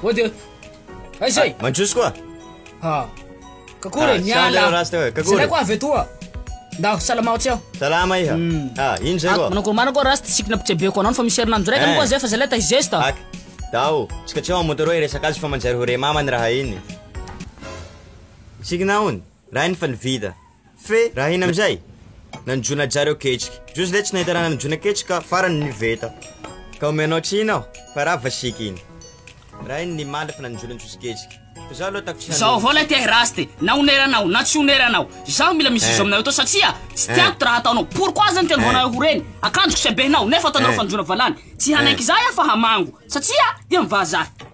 Ody ody. Aiza e? Ah, Mandroso koa. Ha. Ah. Kakory ah, miala. Kakory koa avy etoa. Ndao salama tsy aho. Salama iha. Hmm. Ah, iny zay koa. Manako manako koa rasta sikina pitsebeko anao fa misy herinandro raiky eh. koa zay fa zay leta izesta. Ak. Dao, tsika tsy ao motoroi resaka azy fa manjary ho re mama ny raha iny. Signa ony raha iny fa ny vita fe raha iny amizay nanjono aja reo ketrika zao zle tsy nahita raha nanjono ketrika farany ny veta ka omeo anao tsy iny aho fa raha vasika iny raha iny ny mandry fa nanjono antsosy ketrika fa zaho aloha ataoko tsy hanolo Zao vao lay te hiraste na oneranao na tsy oneranao zaho mila mizizo eh. aminareo to satria tsy tiako ty raha ataonao pourquoi aza ny teny vao eh. nareo ho reny akanjoko sy habehinao nefa ataonareo eh. fanjono valany tsy hanaiky zaho aho fa hamango satria dia mivaha zaho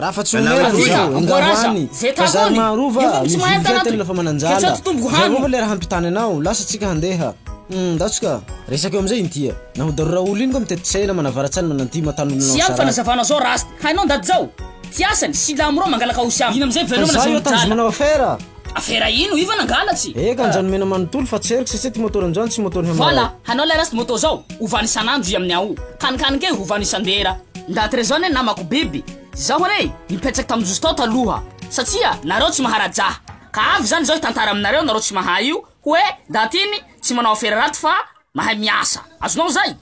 Raha fa tsy ho mera ny zao, engaro any, fa zary maharova, mividy kay tena fa mananjala, zay vao fa le raha hampitany anao, lasa tsika handeha, hum, ndao tsika, resaka eo amizay inty a, na ho darora olo iny koa mitety tsena, manavaratsany, mananty, mataha nolona ao Siam Sarah. fanazavana zao raha ast hainao ndaty zao Tsy asany, silamo reo mangalaka ao siam Ino amizay veloma na Fa za io zao mijaly. tanjona manao affaire. Afera ino? Ivan angalatsy! Eka anjao nomena manontolo fa tsy heriko satsia ty motor anjao tsy motor hamara. Voilà, hanao lay rasta moto zao, ovany isan'andro i amin'ny ao. Kanikany kay ovany isan-dera. Ndaty re zao ne namako biby, zaho re nipetsak tam jozy tao taloha, satsia nareo tsy maharaja, ka avy zany zao hitantara aminareo nareo tsy mahay io, hoe ndaty iny tsy manao afera raty fa Mahay miasa. Azonao zay.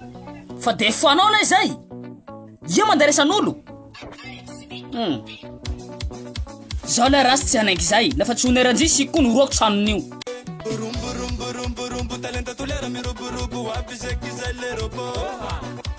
Fa de fanao lay zay. Ia manderesan'olo? Hum. Zao lay raha tsy hanaiky zay. Lafa tsy oneran-jia sy koa noroako tranon'io. Rombo rombo rombo rombo talenta tolera miroborobo aby zay kizay le robot.